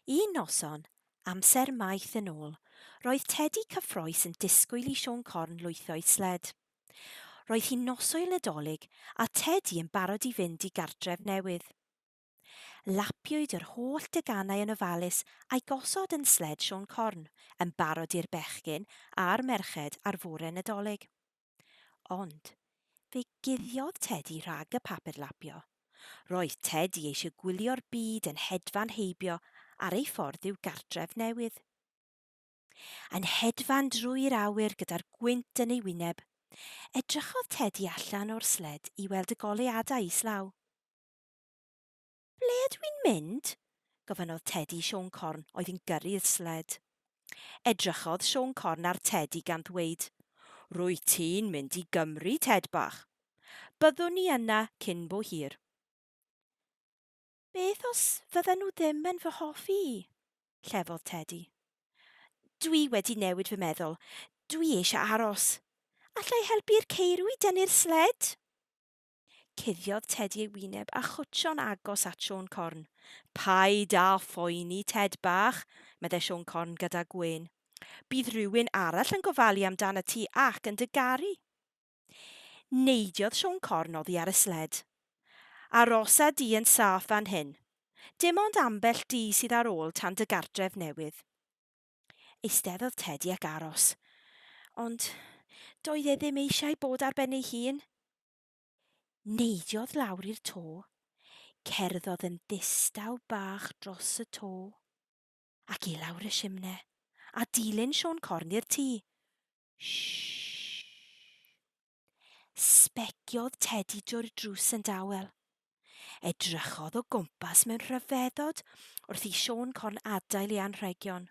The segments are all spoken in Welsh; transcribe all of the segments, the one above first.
Un noson, amser maith yn ôl, roedd Tedi cyffrous yn disgwyl i Siôn Corn lwytho i sled. Roedd hi'n noswyl Nadolig a Tedi yn barod i fynd i gartref newydd. Lapiwyd yr holl deganau yn ofalus a'i gosod yn sled Siôn Corn, yn barod i'r bechgyn a'r merched ar fore Nadolig. Ond fe guddiodd Tedi rhag y papur lapio. Roedd Tedi eisiau gwylio'r byd yn hedfan heibio ar ei ffordd i'w gartref newydd. Yn hedfan drwy'r awyr gyda'r gwynt yn ei wyneb, edrychodd Tedi allan o'r sled i weld y goleuadau islaw. Ble ydw i'n mynd? gofynnodd Tedi Siôn Corn oedd yn gyrru'r sled. Edrychodd Siôn Corn ar Tedi gan ddweud, Rwyt ti'n mynd i Gymru, Ted bach. Byddwn ni yna cyn bo hir. Beth os fydden nhw ddim yn fy hoffi i? llefodd Tedi. Dwi wedi newid fy meddwl. Dwi eisiau aros. Allai helpu'r ceirw i dynnu'r sled? Cuddiodd Tedi ei wyneb a chwtsio'n agos at Siôn Corn. Paid â phoeni, Ted bach, meddai Siôn Corn gyda gwên. Bydd rhywun arall yn gofalu amdanat ti ac yn dy garu. Neidiodd Siôn Corn oddi ar y sled. Arosa di yn saff fan hyn. Dim ond ambell di sydd ar ôl tan dy gartref newydd. Eisteddodd Tedi ac aros. Ond doedd e ddim eisiau bod ar ben ei hun. Neidiodd lawr i'r to. Cerddodd yn ddistaw bach dros y to. Ac i lawr y simne. A dilyn Siôn Corn i'r tŷ. Shh! Sbeciodd Tedi drwy'r drws yn dawel. Edrychodd o gwmpas mewn rhyfeddod wrth i Siôn Corn adael ei anrhegion.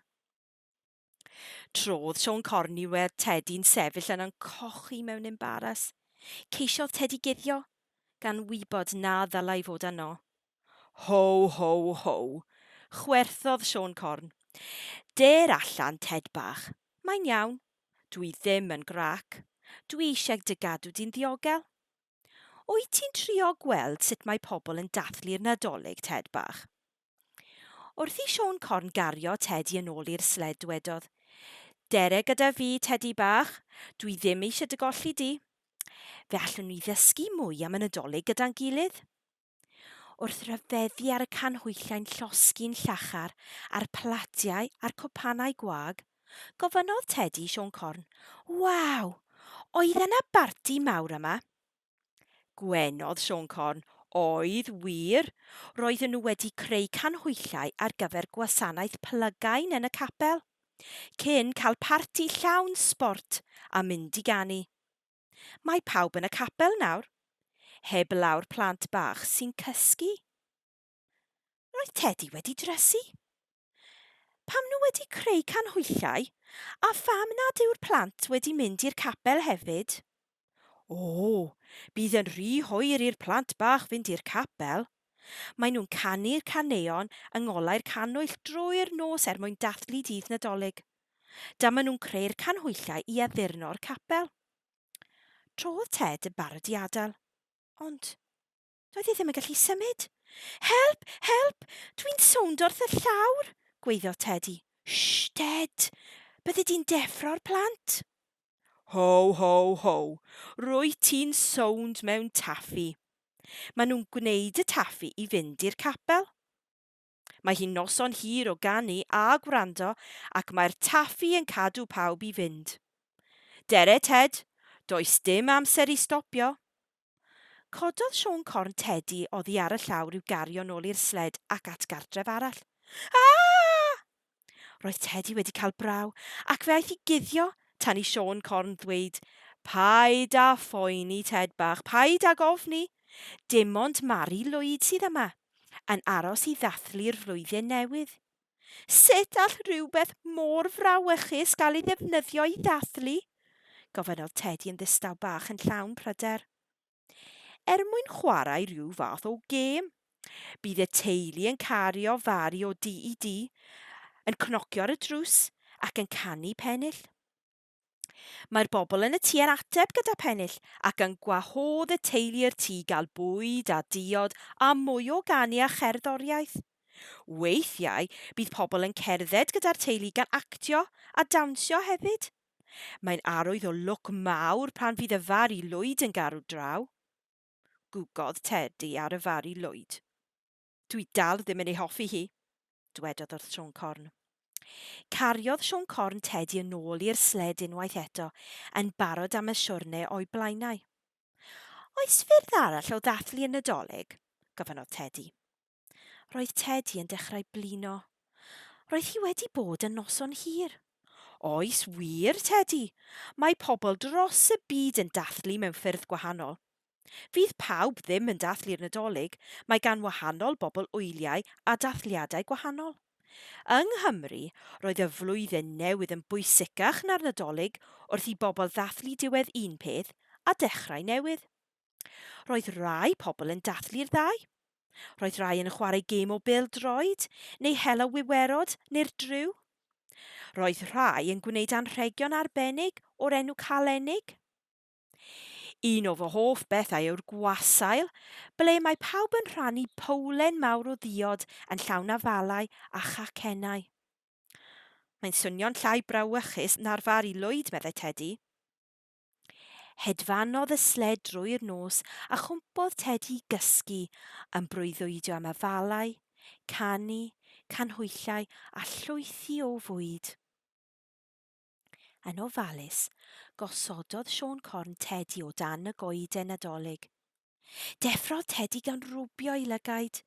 Trodd Siôn Corn i weld Tedi'n sefyll yna'n cochi mewn embaras. Ceisiodd Tedi guddio, gan wybod na ddylai fod yno. Ho, ho, ho! chwerthodd Siôn Corn. Dêr allan, Ted bach. Mae'n iawn. Dw i ddim yn grac. Dw i eisiau dy gadw di'n ddiogel. Wyt ti'n trio gweld sut mae pobl yn dathlu'r Nadolig, Ted bach? Wrth i Siôn Corn gario Ted i yn ôl i'r sled dwedodd, Dere gyda fi, Tedi bach. Dw i ddim eisiau dy golli di. Fe allwn ni ddysgu mwy am y Nadolig gyda'n gilydd. Wrth ryfeddu ar y canhwyllau llosgi'n llachar a'r platiau a'r cwpanau gwag, gofynnodd Tedi i Siôn Corn, Waw! Oedd yna barti mawr yma? Gwenodd Siôn Corn, Oedd wir! Roedden nhw wedi creu canhwyllau ar gyfer gwasanaeth plygain yn y capel, cyn cael parti llawn sbort a mynd i ganu. Mae pawb yn y capel nawr, heblaw'r plant bach sy'n cysgu. Roedd Teddy wedi dresu. Pam nhw wedi creu canhwyllau, a pham nad yw'r plant wedi mynd i'r capel hefyd? O, bydd yn rhy hoer i'r plant bach fynd i'r capel. Mae nhw'n canu'r caneuon yng ngolau'r cannwyll drwy'r nos er mwyn dathlu Dydd Nadolig. Dyma nhw'n creu'r canhwyllau i addurno'r capel. Tro oedd Ted yn barod i adael. Ond doedd hi ddim yn gallu symud. Help! Help! Dwi'n sownd wrth y llawr! gweiddodd Tedi. Shh, Ted! Byddi di'n deffro'r plant! Ho, ho, ho! Rwy ti'n sownd mewn taffi! Maen nhw'n gwneud y taffi i fynd i'r capel. Mae hi'n noson hir o ganu a gwrando ac mae'r taffi yn cadw pawb i fynd. Dere Ted, does dim amser i stopio! Cododd Siôn corn Tedi oddi ar y llawr i'w gario nôl i'r sled ac at gartref arall. Aa! Roedd Tedi wedi cael braw, ac fe aeth i guddio tan i Siôn Corn ddweud, Paid â phoeni, Ted bach, paid âg ofni. Dim ond Mari Lwyd sydd yma, yn aros i ddathlu'r flwyddyn newydd. Sut all rhywbeth mor frawychus gael ei ddefnyddio i ddathlu? gofynnodd Tedi yn ddistaw bach yn llawn pryder. er mwyn chwarae rhyw fath o gêm. Bydd y teulu yn cario fari o du i du, yn cnocio ar y drws ac yn canu pennill. Mae'r bobl yn y tŷ yn ateb gyda pennill ac yn gwahodd y teulu i'r tŷ gael bwyd a diod a mwy o ganu a cherddoriaeth. Weithiau bydd pobl yn cerdded gyda'r teulu gan actio a dawnsio hefyd. Mae'n arwydd o lwc mawr pan fydd y far i Lwyd yn garw draw. Gwgodd Tedi ar y far i Lwyd. Dwi dal ddim yn ei hoffi hi, dwedodd wrth Siôn Corn. Cariodd Siôn Corn Tedi yn ôl i'r sled unwaith eto, yn barod am y siwrne o'i blaenau. Oes ffyrdd arall o ddathlu y Nadolig? gofynnodd Tedi. Roedd Tedi yn dechrau blino. Roedd hi wedi bod yn noson hir. Oes wir, Tedi. Mae pobl dros y byd yn dathlu mewn ffyrdd gwahanol. Fydd pawb ddim yn dathlu'r Nadolig, mae gan wahanol bobl wyliau a dathliadau gwahanol. Yng Nghymru, roedd y Flwyddyn Newydd yn bwysicach na'r Nadolig wrth i bobl ddathlu diwedd un peth a dechrau newydd. Roedd rai pobl yn dathlu'r ddau. Roedd rai yn chwarae gêm o bêl droed, neu hela wiwerod, neu'r driw. Roedd rhai yn gwneud anrhegion arbennig o'r enw Calennig. Un o fy hoff bethau yw'r gwasail, ble mae pawb yn rhannu powlen mawr o ddiod yn llawn afalau a chacennau. Mae'n swnio'n llai brawychus na'r far i Lwyd, meddai Tedi. Hedfanodd y sled drwy'r nos a chwmpodd Tedi i gysgu yn breuddwydio am afalau, canu, canhwyllau a llwythi o fwyd. Yn ofalus, gosododd Siôn Corn Tedi o dan y goeden Nadolig. Deffrodd Tedi gan rwbio'i lygaid.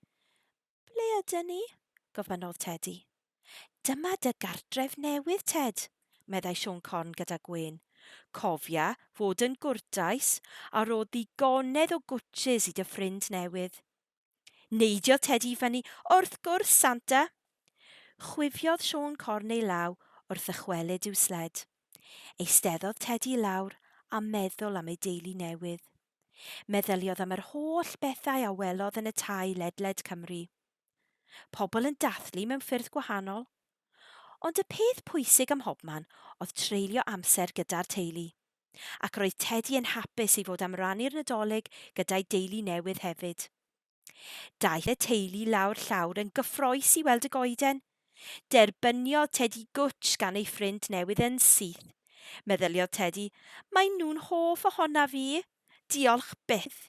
Ble ydyn ni? gofynnodd Tedi. Dyma dy gartref newydd, Ted, meddai Siôn Corn gyda gwên. Cofia fod yn gwrtais a rho ddigonedd o gwtshys i dy ffrind newydd. Neidio Tedi i fyny, Wrth gwrs, Santa! Chwifiodd Siôn Corn ei law wrth ddychwelyd i'w sled. Eisteddodd Tedi i lawr a meddwl am ei deulu newydd. Meddyliodd am yr holl bethau a welodd yn y tai ledled Cymru. Pobl yn dathlu mewn ffyrdd gwahanol. Ond y peth pwysig ym mhobman oedd treulio amser gyda'r teulu. Ac roedd Tedi yn hapus i fod am rannu'r Nadolig gyda'i deulu newydd hefyd. Daeth y teulu lawr llawr yn gyffroes i weld y goeden. Derbyniodd Tedi gwtsh gan ei ffrind newydd yn syth. Meddyliodd Tedi, Maen nhw'n hoff ohonaf i! Diolch byth!